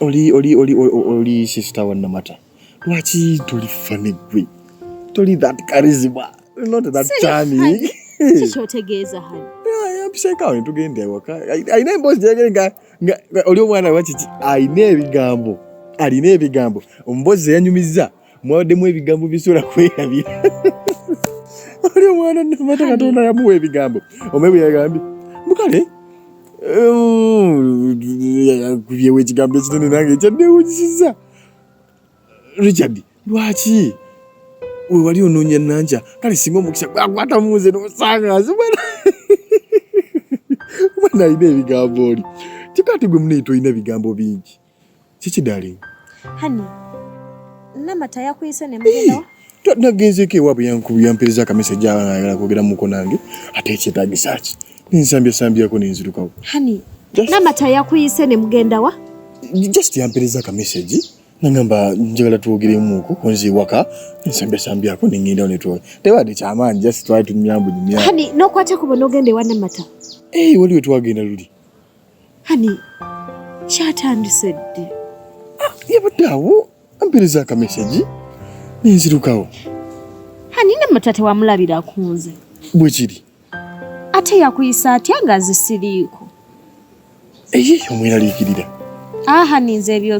oli oli oli oli sister wa namata lwaki toli fane gwe toli that charisma not that charming kiki otegeeza hano apiseka we tugenda ewaka alina emboozi gyegere nga oli omwana wakiki alina ebigambo alina ebigambo omumboozi eyanyumizza mwabaddemu ebigambo bisobola kwerabira oli omwana namata katonda yamuwa ebigambo omaye bwe yagambye mukale kubyewo ekigambo ekinene nange ekyaddewunyisiza richard lwaki wewali onoonya nankya kale singa omukisa gwakwata munze nosangazi mwana alina ebigambo oli kikati gwe munaye tolina bigambo bingi Kiki darling? Honey, Namata yakuyise ne mugenda. Nagenzeeko ewaabwe yampiriza akameseji abaana ayagala kwogera muko nange ate ekyetaagisa ki nensambyasambyako nenzirukawo. Honey, Namata yakuyise ne mugenda wa? Just yampiriza akameseji nangamba njagala twogeremuko onzi waka nsambesambyako nengendawo netwola tebadde kyamaanyi just twali tumyambu nyumya. Honey, nokwata kubo nogenda ewa Namata. Hey, waliwo twagenda luli Hani kyatandise ddi? Ah, yabadde awo ampereza akamesegi nenzirukawo. Hani ne mata tewamulabira ku nze? Bwe kiri. Ate yakuyisa atya nga nze siriiko? Eyiyo mweraliikirira. Aha ninze ebyo